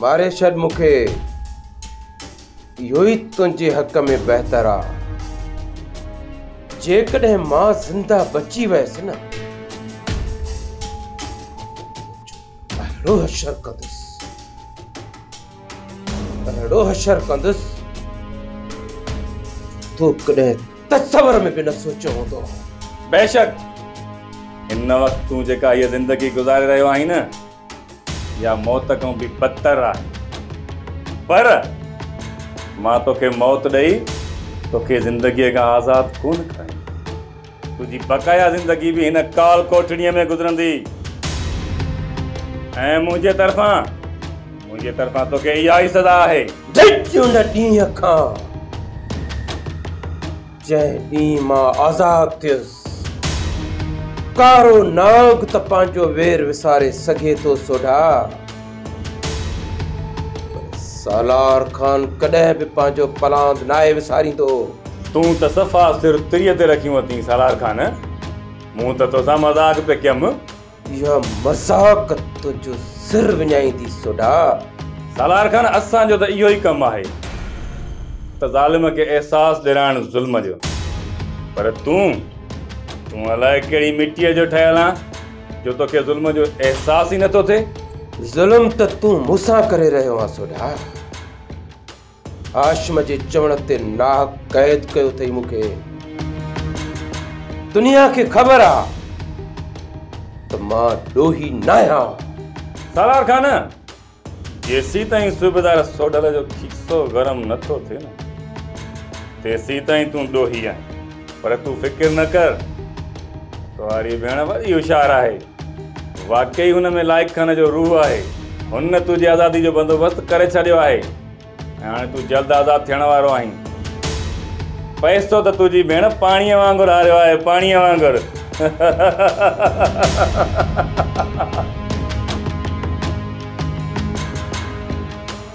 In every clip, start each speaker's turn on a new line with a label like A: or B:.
A: ماري ڇڏ مون
B: کي اهو ئي تنهنجي حق ۾ بهتر آ جيڪڏهن مان زنده بچي ويس نه اهڙو حشر ڪندس اهڙو حشر ڪندس تو ڪڏهن تصور ۾ به نه سوچيو هوندو بيشڪ
A: هن وقت تون جيڪا هيء زندگي گذاري رهيو آهين نه اها موت کان به بدتر آهي پر مان توکي موت ڏئي توکي زندگيء کان آزاد ڪونه ڪرايندس. تنهنجي بقايا زندگي به هن ڪال ڪوٺڙيء ۾ گذرندي ۽ منهنجي طرفان منهنجي طرفان توکي اها ئي سزا آهي. جج ان ڏينهن
B: کان. جنهن ڏينهن مان آزاد ٿيس. ڪارو ناگ ته پنهنجو وير وساري سگهي ٿو سوڍا، پر سالار خان ڪڏهن به پنهنجو پلاند ناهي وساريندو. تون ته
A: صفا سر تريء تي رکيون اٿين سالار خان، مون ته توسان مذاق پئي ڪيم. اها
B: مذاق تنهنجو سر وڃائيندي سوڍا. سالار
A: خان اسان جو ته اهو ئي ڪم آهي ته ظالم کي احساس ڏيرائڻ ظلم جو پر تون تون الائي ڪهڙي مٽيء جو ٺهيل آن جو توکي ظلم جو احساس ئي نٿو ٿئي. ظلم ته
B: تون مون سان ڪري رهيو آن سوڍا. هاشم جي چوڻ تي ناهڪ قيد ڪيو اٿئي مون کي. دنيا کي خبر آ ته مان ڏوهي ناهيان. سالار
A: خان، جيسيتائين صوبيدار سوڍل جو کيسو گرم نه ٿو ٿئي نه، تيسيتائين تون ڏوهي آهين. پر تون فڪر نه ڪر، تهاري ڀيڻ وڏي هوشيار آهي. واقعي هن ۾ لائق خان جو روح آهي. هن تنهنجي آزادي جو بندوبست ڪري ڇڏيو آهي ۽ هاڻي تون جلد آزاد ٿيڻ وارو آهين. پئسو ته تنهنجي ڀيڻ پاڻيء وانگر هاريو آهي، پاڻيء وانگر.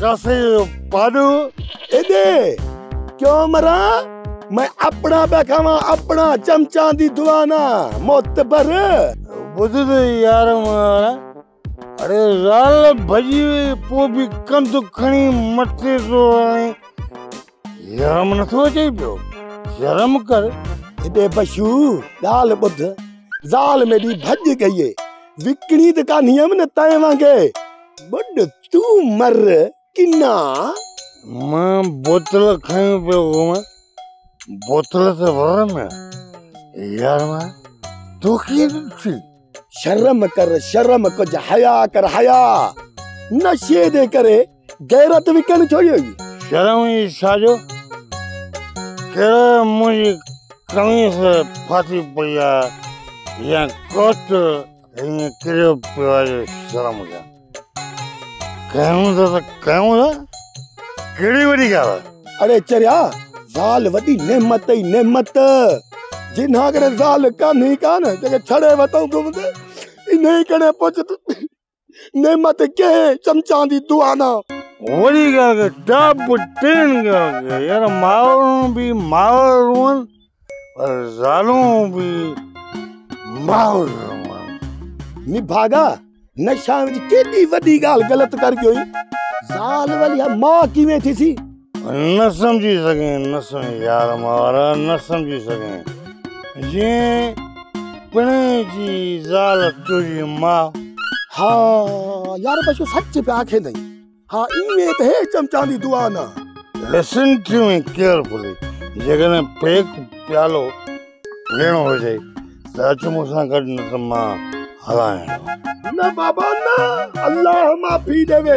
C: ڪاسي جو پاڏو ايڏي
D: ڪيون مران مين اپڻا پيا کاوان اپڻا چمچان دي دوانا معتبر ٻڌ
C: ته يار مارا اڙي زال ڀڄي وئي پوء به ڪنڌ کڻي مٿي ٿو هڻي شرم نه ٿو اچئي پيو شرم ڪر هيڏي بشو
D: ڳالهه ٻڌ زال ميڏي ڀڄ گئي وڪڻي ته ڪانهي هيم نه تنهن وانگي ٻڏ تون مر ڪنا
C: مان بوتل کڻي پيو هوم بوتل ته ور ۾ يار مان تو کي ڏٺي شرم
D: ڪر شرم ڪج حيا ڪر حيا نشي دي ڪري غيرت وڪڻ ڇو يوئي. شرم ئي
C: ڇا جو ڪهڙو منهنجي قميص ڦاٽي پئي آ يا ڪوٽ هيئن ڪريو پيو آ جو شرم ڪيان. ڪيون ٿا ته ڪيون ٿا ڪهڙي وڏي ڳالهه آ. اڙي چريا
D: زال وڏي نعمت ئي نعمت جنهن اگر زال ڪانهي ڪا نه جيڪي ڇڙي وتو گهمندي انهي ڪني پڇ ته. نعمت ڪنهن چمچان دي دعانا وري ڳالهه
C: ڪر ٽاپ ٽين ڳالهه ڪر يار مائرون به مائر روئن پر زالون به مائر روئن نڀاڳا
D: نشان وچ ڪيڏي وڏي ڳالهه غلط ڪر ڳيو زال وليا ماء ڪيئن ٿيسي نه سمجهي
C: سگهين نه سمجهي يار مارا نه سمجهي سگهين جين پڻي جي زال تجي ماء ها
D: يار بشو سچ پيا کي دئي ها ايوي ته هي چمچان دي دعا نه لسن ٽو
C: مي ڪيئرفولي جيڪڏهن پيڪ پيالو ڏيڻو هجي ته اچ مون سان گڏ نه ته مان هلائين نه بابا
D: نه الله معافي ڏي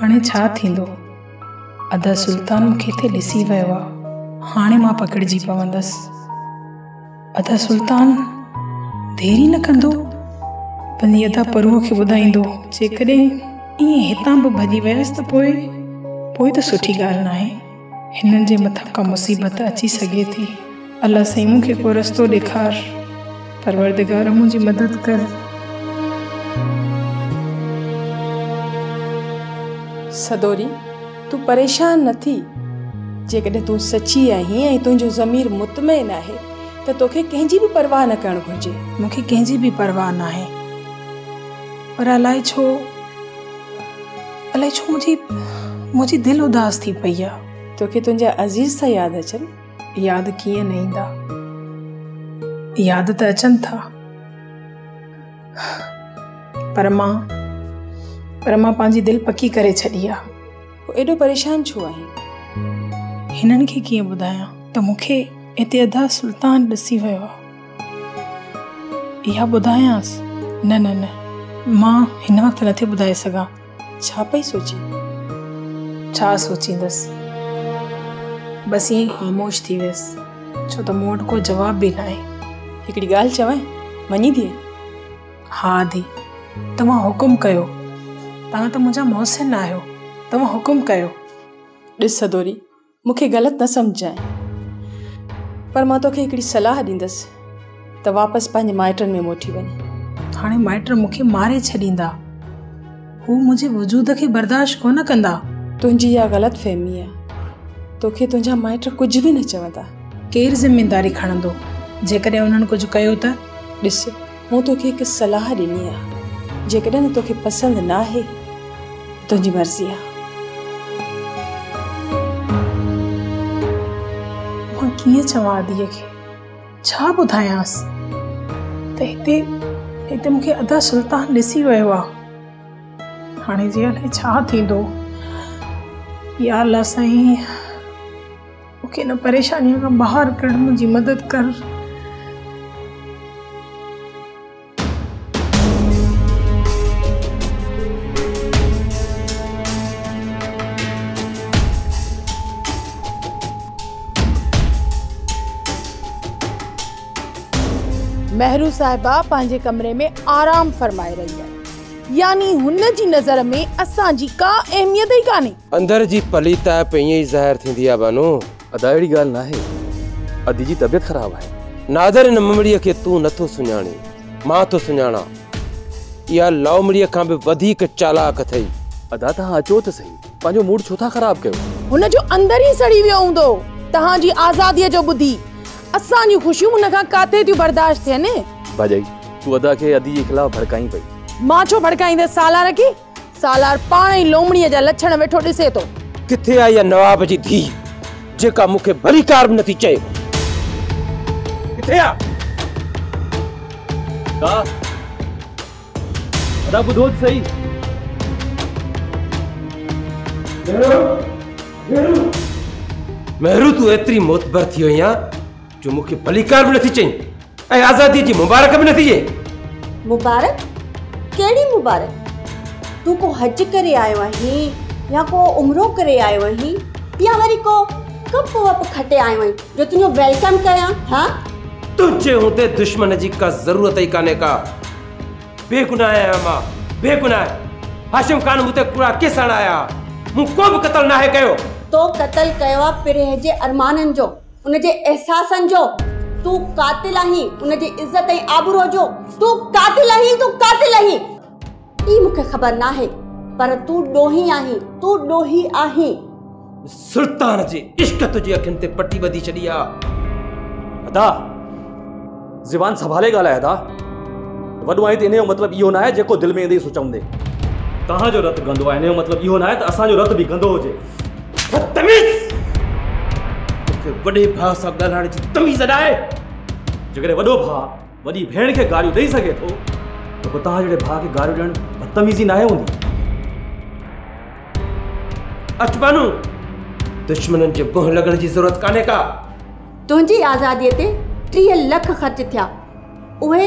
E: هاڻي ڇا ٿيندو؟ ادا سلطان مون کي هتي ڏسي ويو آ، هاڻي مان پڪڙجي پوندس. ادا سلطان دير ئي نه ڪندو، پنهنجي ادا پروهه کي ٻڌائيندو، جيڪڏهن ائين هتان به ڀڄي ويس ته پوء؟ پوء ته سٺي ڳالهه ناهي. هنن جي مٿان ڪا مصيبت اچي سگهي ٿي. الله سائين مون کي ڪو رستو ڏيکار. پروردگار منهنجي مدد ڪر.
F: سدوري، تون پريشان نه ٿي. جيڪڏهن تون سچي آهين ۽ تنهنجو ضمير مطمئن آهي ته توکي ڪنهن جي به پرواهه نه ڪرڻ گهرجي. مون کي ڪنهن جي به
E: پرواهه ناهي. پر الائي ڇو؟ الائي ڇو منهنجي منهنجي دل اداس ٿي پئي آ. توکي تنهنجا عزيز
F: ٿا ياد اچن. ياد ڪيئن نه ايندا
E: ياد ته اچن ٿا پر مان پر مان پنهنجي دل پڪي ڪري ڇڏي آ. ايڏو پريشان
F: ڇو آهين.
E: هنن کي ڪيئن ٻڌايان ته مونکي هتي ادا سلطان ڏسي ويو آ. اها ٻڌايانس؟ نه نه نه مان هن وقت نٿي ٻڌائي سگهان. ڇا پئي
F: سوچين؟
E: ڇا سوچيندس؟ بس ائين ئي خاموش ٿي ويس. ڇو ته مون وٽ ڪو جواب به ناهي. هڪڙي ڳالهه
F: چوانء، مڃين ٿيء؟ ها
E: ڌي، توهان حڪم ڪيو. توهان ته منهنجا محسن آهيو. توهان حڪم ڪيو. ڏس
F: سدوري، مون کي غلط نه سمجهجانء پر مان توکي هڪڙي صلاح ڏيندس ته واپس پنهنجي مائٽن ۾ موٽي وڃ. هاڻي مائٽ مون کي
E: ماري ڇڏيندا. هو منهنجي وجود کي برداشت ڪونه ڪندا. تنهنجي اها غلط
F: فهمي آهي. توکي تنهنجا مائٽ ڪجهه به نه چوندا. ڪير ذميداري
E: کڻندو جيڪڏهن انهن ڪجهه ڪيو ته؟ ڏس!
F: مون توکي هڪ صلاح ڏني آ جيڪڏهن توکي پسند ناهي ته تنهنجي مرضي آ.
E: مان ڪيئن چوان ادي کي ڇا ٻڌايانس ته هتي هتي مونکي ادا سلطان ڏسي ويو آ هاڻي جي هلي ڇا ٿيندو يا الله سائين. مون کي هن پريشانيء کان ٻاهر ڪڍ منهنجي مدد ڪر.
G: مهرو صاحبه پنهنجي ڪمري ۾ آرام فرمائي رهي آهي يعني هن جي نظر ۾ اسان جي ڪا اهميت ئي ڪانهي. اندر جي پليتائپ
B: ائين ئي ظاهر ٿيندي آهي بانو. ادا اهڙي ڳالهه
H: ناهي. ادي جي طبيعت خراب آهي. نادر ان ممڙيء
B: کي تون نه ٿو سڃاڻين. مان ٿو سڃاڻان. اها لائومڙيء کان به وڌيڪ چالاڪ اٿئي. ادا توهان اچو
H: ته سهي. پنهنجو موڊ ڇو ٿا خراب ڪيو. هن جو اندر ئي
G: سڙي ويو هوندو. توهان جي آزاديء جو ٻڌي. اسان جون خوشيون هن کان ڪاٿي ٿيون برداشت ٿين. ڀاڄائي،
H: تون ادا کي ادي جي خلاف ڀڙڪائين پئي. مان ڇو ڀڙڪائيندس
G: سالار کي. سالار پاڻ ئي لومڙيء جا لڇڻ ويٺو ڏسي ٿو. ڪٿي آ اها
B: نواب جي ڌيء جيڪا مون کي ڀليڪار به نٿي چئي. ڪٿي آ؟ ادا،
H: ادا ٻڌو ته سهي. مهرو،
B: مهرو. مهرو تون ايتري معتبر ٿي وئين آ. جو مون کي ڀليڪار به نٿي چئين ۽ آزادي جي مبارڪ به نٿي ڏئين مبارڪ
I: ڪهڙي مبارڪ تون ڪو حج ڪري آيو آهين يا ڪو عمرو ڪري آيو آهين يا وري ڪو ڪپ وپ کٽي آيو آهين جو تنهنجو ويلڪم ڪيان ها تنهنجي
B: هوندي دشمن جي ڪا ضرورت ئي ڪانهي ڪا بيگناهه آهيان مان بيگناهه هاشم خان مون تي ڪوڙا ڪيس آڻايا مون ڪو به قتل ناهي ڪيو تو قتل
I: ڪيو آهي پرهه جي ارمانن جو ان جي احساسن جو تون قاتل آهين ان جي عزت ۽ آبرو جو تون قاتل آهين تون قاتل آهين اي مونکي خبر ناهي پر تون ڏوهي آهين تون ڏوهي آهين سلطان
B: جي عشق تنهنجي اکين تي پٽي ٻڌي ڇڏي آ ادا
H: زبان سنڀالي ڳالهاء ادا. وڏو آهين ته ان جو مطلب اهو ناهي جيڪو دل ۾ ايندي سو چوندي. توهان جو رت گندو آهي ان جو مطلب اهو ناهي ته اسان جو رت به گندو هجي. بدتميز!
B: توکي وڏي ڀاء سان ڳالهائڻ جي تميز اڏائي! جيڪڏهن وڏو
H: ڀاء وڏي ڀيڻ کي گاريون ڏئي سگهي ٿو ته پوء توهان جهڙي ڀاء کي گاريون ڏيڻ بدتميزي ناهي هوندي.
B: اچ بانو! دشمنن جي بنهه لڳڻ جي ضرورت ڪانهي ڪا. تنهنجي
I: آزاديء تي ٽيهه لک خرچ ٿيا. اهي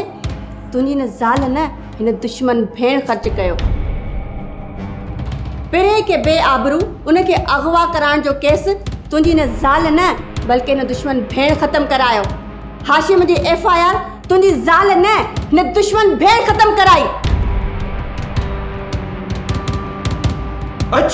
I: تنهنجي هن زال نه هن دشمن ڀيڻ خرچ ڪيو. پرين کي بي آبرو ان کي اغوا ڪرائڻ جو ڪيس تنهنجي هن زال نه بلڪه هن دشمن ڀيڻ ختم ڪرايو. هاشم جي ايف آء آر تنهنجي زال نه هن دشمن ڀيڻ ختم ڪرائي.
B: اچ!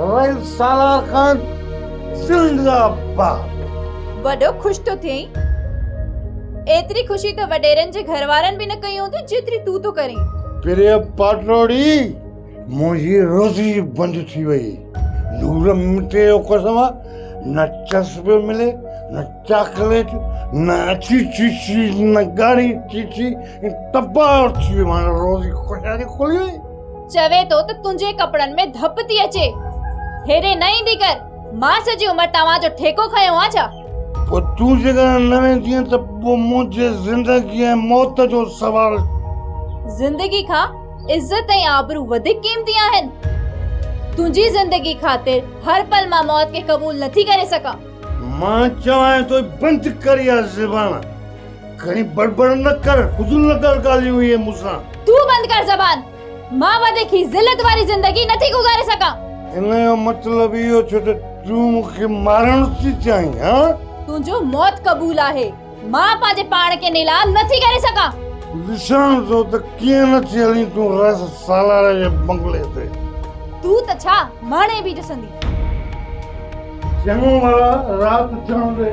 C: ويل سالار خان زنده باد. وڏو خوش
J: ٿو ٿئين. ايتري خوشي ته وڏيرن جي گهر وارن به نه ڪئي هوندي جيتري تون ٿو ڪرين. پريا
C: پاٽوڙي منهنجي روزي بند ٿي وئي. نور مٽي جو قسم آ نه چس پيو ملي نه چاڪليٽ نه اڇي چيچي نه ڳاڙهي چيچي ٽپا ٿي ويو مانجو روزي خوشحالي کلي وئي. چوي ٿو ته
J: تنهنجي ڪپڙن ۾ ڌپ ٿي اچي. هيڏي نه ايندي ڪر. مان سڄي عمر توهان جو ٺيڪو کنيو آ ڇا؟ پوء تون
C: جيڪڏهن نه ويندينء ته پوء منهنجي زندگي ۽ موت جو سوال. زندگي
J: کان عزت ۽ آبرو وڌيڪ قيمتي آهن. تنهنجي زندگي خاطر هر پل مان موت کي قبول نٿي ڪري سگهان. مان
C: چوانء ٿو بند ڪر اها زبان. گهڻي بڙبڙ نه ڪر. فضول نه ڪر ڳالهيون اهي مون سان. تون بند ڪر
J: زبان. مان وڌيڪ هي ذلت واري زندگي نه ٿي گذاري سگهان. ان جو مطلب
C: اهو ڇو ته تون مون کي مارڻ ٿي چاهين ها؟ تنهنجو موت
J: قبول آهي. مان پنهنجي پاڻ کي نيلام نه ٿي ڪري سگهان. ڏسان
C: ٿو ته ڪيئن نٿي هلين تون رس سالار جي بنگلي تي. تون ته ڇا
J: مهڻي به ڏسندي.
C: چڱو ڀلا رات ٿيڻ ڏي.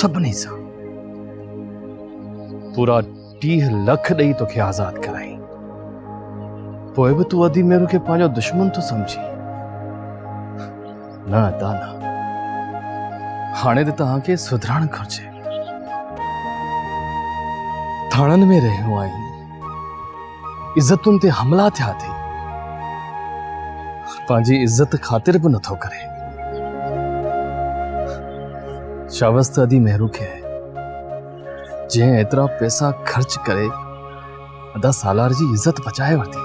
H: سڀني سان پورا ٽيهه لک ڏئي توکي آزاد ڪرائين پوء به تون ادي ميرو کي پنهنجو دشمن ٿو سمجھي نه ادا نه هاڻي ته توهان کي سڌرڻ گھرجي ٿاڻن ۾ رهيو آهي عزتن تي حملا ٿيا اٿئي پنهنجي عزت خاطر به نٿو ڪري شاوس ته ادي مهرو کي آهي جنهن ايترا پيسا خرچ ڪري ادا سالار جي عزت بچائي ورتي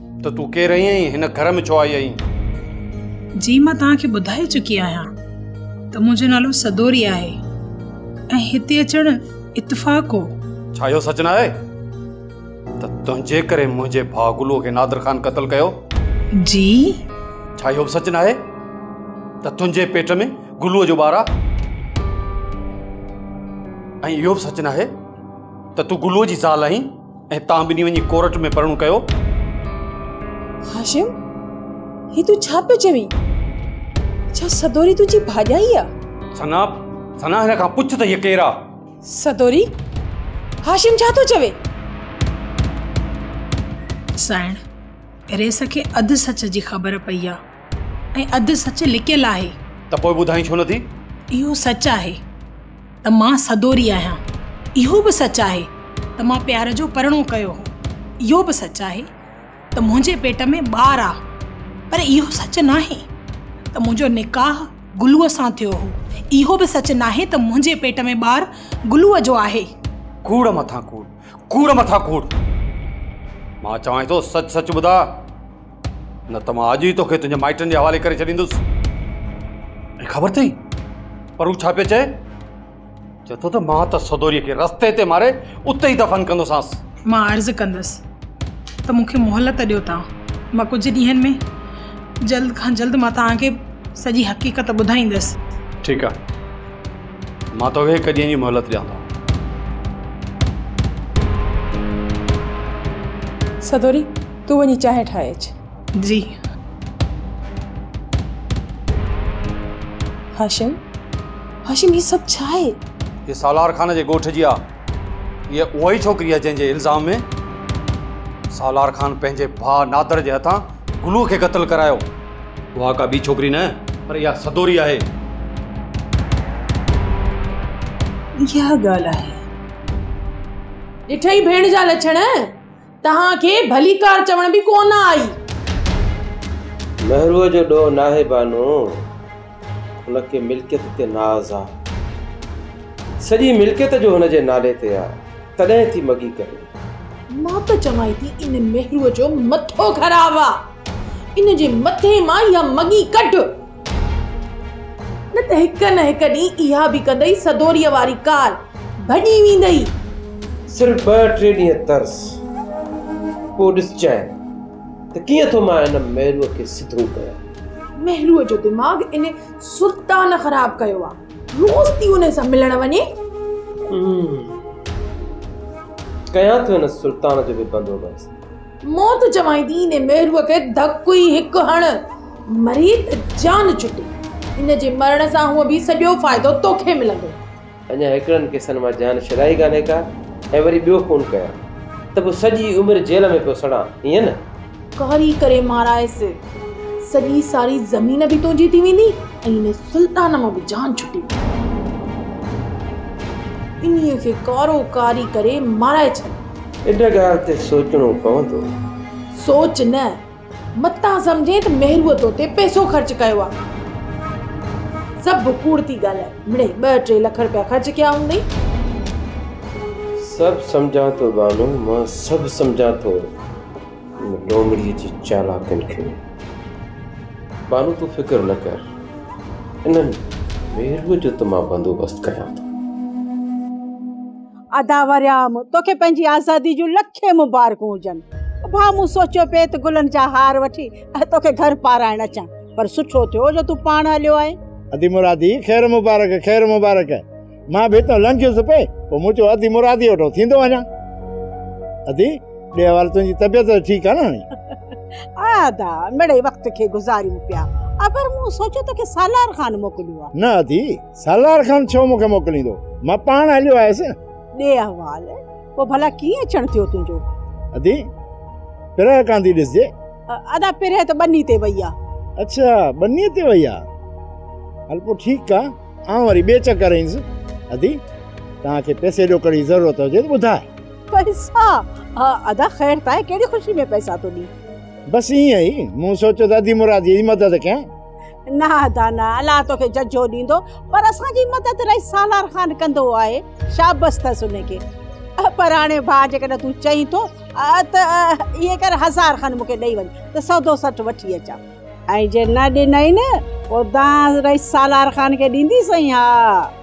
K: ته تون ڪير آهين ۽ هن گهر ۾ ڇو آئي آهين؟ جي
E: مان توهان کي ٻڌائي چڪي آهيان ته منهنجو نالو سدوري آهي ۽ هتي اچڻ اتفاق هو. ڇا اهو سچ
K: نه آهي ته تنهنجي ڪري منهنجي ڀاء گلوء کي نادر خان قتل ڪيو؟ جي.
E: ڇا
K: اهو به سچ نه آهي ته تنهنجي پيٽ ۾ گلوء جو ٻار آهي؟ ۽ اهو به سچ نه آهي ته تون گلوء جي زال آهين؟ ۽ تان ٻنهي وڃي ڪورٽ ۾ پرڻو ڪيو. هاشم
F: هي تون ڇا پيو چوين ڇا سدوري تنهنجي ڀاڄائي آ. ثنا
K: ثنا هن کان پڇ ته هيء ڪير آ. سدوري
F: هاشم ڇا ٿو چوي.
E: سائڻ ريس کي اڌ سچ جي خبر پئي آ. ۽ اڌ سچ لڪيل آهي. ته پوء ٻڌائين ڇو
K: نٿي؟ اهو سچ آهي
E: ته مان سدوري آهيان. اهو به سچ آهي ته مان پيار جو پرڻو ڪيو هو. اهو به سچ آهي ته منهنجي پيٽ ۾ ٻار آ. پر اهو سچ ناهي ته منهنجو نڪاح گلوء سان ٿيو هو. اهو به سچ ناهي ته منهنجي پيٽ ۾ ٻار گلوء جو آهي. ڪوڙ مٿان
K: ڪوڙ. ڪوڙ مٿان ڪوڙ. مان چوانء ٿو سچ سچ ٻڌاء. نه ته مان اڄ ئي توکي تنهنجي مائٽن جي حوالي ڪري ڇڏيندس ۽ خبر اٿئي پر هو ڇا پيو چئي چئي ٿو ته مان ته سدوريء کي رستي تي ماري اتي ئي دفن ڪندوسانس مان عرض ڪندس
E: ته مونکي مهلت ڏيو تان مان ڪجهه ڏينهن ۾ جلد کان جلد مان تانکي سڄي حقيقت ٻڌائيندس ٺيڪ آهي
K: مان توکي هڪ ڏينهن جي مهلت ڏيان ٿو
F: سدوري تون وڃي چانهه ٺاهي اچ. جي. هاشم هاشم هي سڀ ڇا آهي؟ هي سالار خان
K: جي ڳوٺ جي آهي. هيء اها ئي ڇوڪري آهي جنهن جي الزام ۾ سالار خان پنهنجي ڀاء نادر جي هٿان گلوء کي قتل ڪرايو. اها ڪا ٻي ڇوڪري نه پر اها سدوري آهي. اها
F: ڳالهه آهي. ڏٺئي ڀيڻ جا لڇڻ. توهان کي ڀليڪار چوڻ به ڪو نه آئي. مهروء
B: جو ڏوهه ناهي بانو، هن کي ملڪيت تي ناز آ. سڄي ملڪيت جو هن جي نالي تي آ، تڏهن ٿي مڳي ڪري. مان ته
F: چوان ٿي ان مهروء جو مٿو خراب آ، ان جي مٿي مان اها مڳي ڪڍ. نه ته هڪ نه هڪ ڏينهن اها به ڪندئي سدوريء واري ڪار ڀڄي ويندئي. صرف
B: ٻه ٽي ڏينهن ترس، پوء ڏسجانء ته ڪيئن ٿو مان ان مهروء کي سڌو ڪيان. مهروء جو دماغ
F: ان سلطان خراب ڪيو آ، روز ٿي ان سان ملڻ وڃي.
B: ڪيان ٿو ان سلطان جو به بندوبست. موت چوائين ٿي
F: انهي ميرو کي ڌڪ ئي هڪ هڻ مري ته جان ڇٽي. هن جي مرڻ سان هونء به سڄو فائدو توکي ملندو. اڃا هڪڙن
B: قصن مان جان ڇڏائي ڪانهي ڪا ۽ وري ٻيو خون ڪيان ته پوء سڄي عمر جيل ۾ پيو سڙان ائين نه؟ ڪاري ڪري
F: مارائيس. سڄي ساري زمين به تنهنجي ٿي ويندي ۽ انهي سلطان مان به جان ڇٽي ويندي. انهي کي ڪارو ڪاري ڪري مارائي ڇڏ. اھڙ ڳالھ
B: تي سوچڻو پوندو. سوچ
F: نه، متان سمجھين ته ميھروء تو تي پئسو خرچ ڪيو آ. سڀ ڪوڙ ٿي ڳالھائي. مڙئي ٻه ٽي لک رپيا خرچ ڪيا ھوندئي.
B: سڀ سمجھان ٿو بانو، مان سڀ سمجھان ٿو. ان لومڙيء جي چالاڪين کي. بانو تون فڪر نه ڪر. انھن ميھروء جو ته مان بندوبست ڪريان ٿو.
L: ادا وريام توکي پنهنجي آزادي جون لکين مبارڪون هجن ڀا مون سوچيو پئي ته گلن جا هار وٺي توکي گهر پارائڻ اچان پر سٺو ٿيو جو تون پاڻ هليو آئين ادي مرادي
C: خير مبارڪ خير مبارڪ مان به اتان لنگهيس پئي پوء مون چيو ادي مرادي وٽو ٿيندو وڃان ادي ٻي حوالي تنهنجي طبيعت ته ٺيڪ آ ناڻي ادا مڙئي
L: وقت کي گذاريون پيا اگر مون سوچيو توکي سالار خان موڪليو آ نه ادي سالار
C: خان ڇو مون کي موڪليندو؟ مان پاڻ هليو آيس. ڏي احوال.
L: پوء ڀلا ڪيئن اچڻ ٿيو تنهنجو؟ ادي،
C: پرهه ڪانه ٿي ڏسجي. ادا، پرهه
L: ته ٻني تي وئي آ. اڇا، ٻني تي
C: وئي آ. هل پوء ٺيڪ آ، آئون وري ٻئي چڪر ايندس. ادي، توهان کي پئسي ڏوڪڙ جي ضرورت هجي ته ٻڌاء. پئسا!
L: ها ادا، خير ته آهي، ڪهڙي خوشي ۾ پئسا ٿو ڏين. بس ائين ئي.
C: مون سوچيو ته ادي مراديء جي مدد ڪيان. نه ادا
L: نه الله توکي ججهو ڏيندو پر اسان جي مدد رئيس سالار خان ڪندو آهي شابس تس ان کي پر هاڻي ڀاء جيڪڏهن تون چئين ٿو ته ايئن ڪر هزار کن مونکي ڏئي وڃ ته سودو سٺ وٺي اچان ۽ جي نه ڏنئي نه پوء دانهن رئيس سالار
C: خان کي
L: ڏيندي
C: سائين
L: ها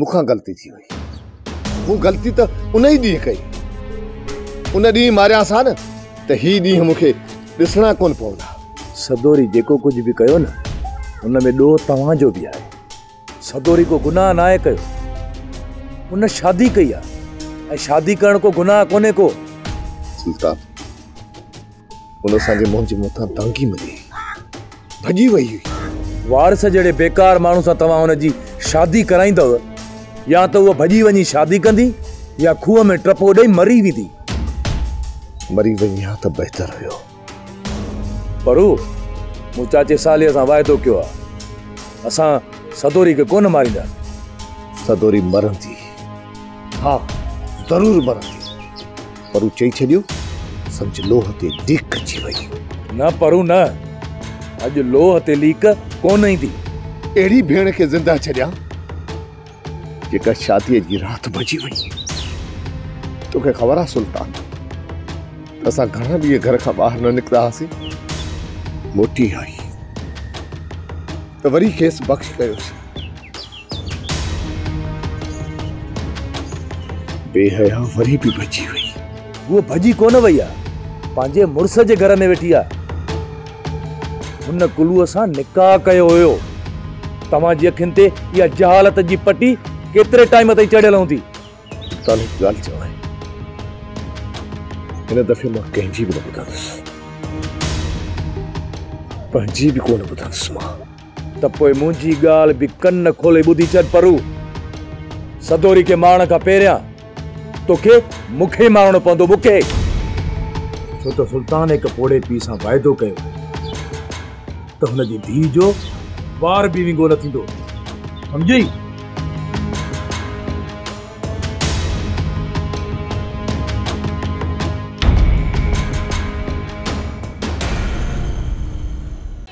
D: مون کان غلطي ٿي وئي مون غلطي ته ان ئي ڏينهن ڪئي ان ڏينهن ماريان سان نه ته هي ڏينهن مون کي ڏسڻا ڪون پوندا سدوري جيڪو
M: ڪجهه به ڪيو نه ان ۾ ڏوهه توهان جو به آهي سدوري ڪو گناهه ناهي ڪيو ان شادي ڪئي آهي ۽ شادي ڪرڻ ڪو گناهه ڪونهي ڪو سلطان
D: ان اسان جي منهن جي مٿان دانگي ملي ڀڄي وئي هئي وارث جهڙي بيڪار
M: ماڻهو سان توهان هن جي شادي ڪرائيندو يا ته هو ڀڄي وڃي شادي ڪندي يا کوهه ۾ ٽپو ڏئي مري ويندي
D: مري وڃي ها ته بهتر هيو
M: پر هو مون چاچي سالي سان واعدو ڪيو آ اسان سدوري کي ڪونه ماريندا سدوري
D: مرندي ها ضرور مرندي پرو چئي ڇڏيو، سمجهه لوهه تي ليڪ اچي وئي. نه پرو نه،
M: اڄ لوهه تي ليڪ ڪونه ايندي. اهڙي ڀيڻ
D: کي زنده ڇڏيان، جيڪا شاديء جي رات ڀڄي وئي. توکي خبر آهي سلطان، ته اسان گهڻا ڏينهن گهر کان ٻاهر نه نڪتا هئاسين. موٽي آئي، ته وري کيس بخش ڪيوسين. بي حيا وري به ڀڄي وئي. هوء ڀڄي
M: ڪونه وئي آهي. پنهنجي مڙس جي گهر ۾ ويٺي آهي. هن ڪلوء سان نڪاح ڪيو هيو. توهان جي اکين تي اها جهالت جي پٽي ڪيتري ٽائيم تائين چڙهيل هوندي؟ تان هڪ
D: ڳالهه چوان. هن دفعي مان ڪنهن جي به نه ٻڌندس. پنهنجي به ڪونه ٻڌندس مان. ته پوء منهنجي
M: ڳالهه به ڪن کولي ٻڌي ڇڏ پرو. سدوري کي مارڻ کان پهريان توکي مون کي ئي مارڻو پوندو، مون کي! ڇو ته سلطان هڪ پوڙهي پيء سان واعدو ڪيو هو ته هن جي ڌيء جو وار به وينگو نه ٿيندو، سمجهيئي؟